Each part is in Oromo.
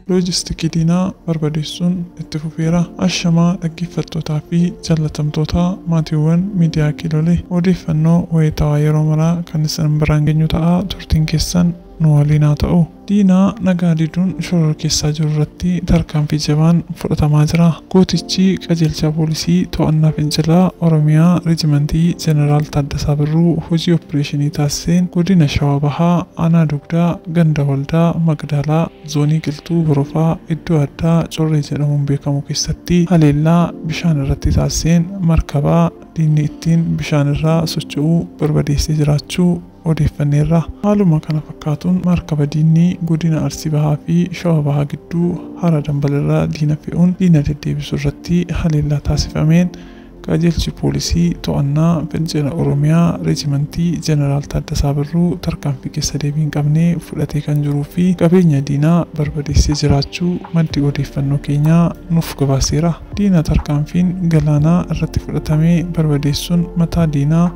Loojistikii diinaa barbadeessuun itti fufeera. Ashamaa dhaggeeffattootaa fi jaalatamtoota maatiiwwan miidiyaa Kiilolee odeeffannoo wayitaawaa yeroo maraa kan isin biraan geenyu ta'a turtiin keessan nu waliin haa ta'u. Diina nagaa diduun shororkeessaa jiru irratti tarkaanfii jabaan fudhatamaa jira. Gootichi Qajeelchaa Poolisii To'annaa Fincilaa Oromiyaa Reejimantii Jeneraal Taaddasaa Birruu hojii oppireeshinii taasiseen Godina Shawaa Bahaa Aanaa Dugdaa Ganda Waldaa Maqdaalaa Zoonii Qilxuu Horofaa iddoo addaa Corree jedhamuun beekamu keessatti haleellaa bishaan irratti taasiseen markaba diinni ittiin bishaan irra socho'u barbadeessee jiraachuu odeeffanneerra. Haaluma kana fakkaatuun markaba diinni godina Arsii Bahaa fi Shawaa Bahaa gidduu Hara Dambal irra diina fe'uun diina deddeebisu irratti haleellaa taasifameen Qajeelchi Poolisii To'annaa Fincila Oromiyaa Reejimantii Jeneraal Taaddasaa Birruu tarkaanfii keessa deebii hin qabne fudhatee kan jiruu fi qabeenya diinaa barbadeessee jiraachuu maddi odeeffannoo keenyaa nuuf gabaaseera. Diina tarkaanfiin galaanaa irratti fudhatame barbadeessuun mataa diinaa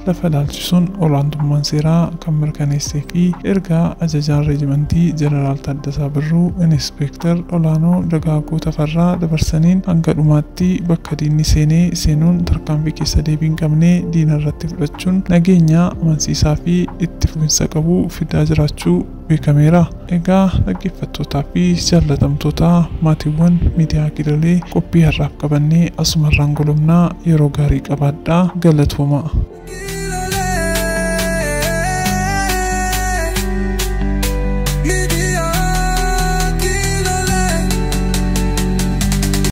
lafa ilaalchisuun olaantummaan seeraa kan mirkaneessee fi erga ajajaan reejimantii Jeneraal Taaddasaa Birruu Inispeektar Olaanoo Dagaagoo Tafarraa dabarsaniin hanga dhumaatti bakka diinni seenee seenuun tarkaanfii keessa deebii hin qabne diina irratti fudhachuun nageenya amansiisaa fi itti fufinsa qabu fidaa jiraachuu beekameera. Egaa dhaggeeffattootaa fi jaallatamtoota maatiiwwan miidiyaa Gidalee qophii har'aaf qabannee asumarraan golobna yeroo gaarii qabaadhaa galatoomaa.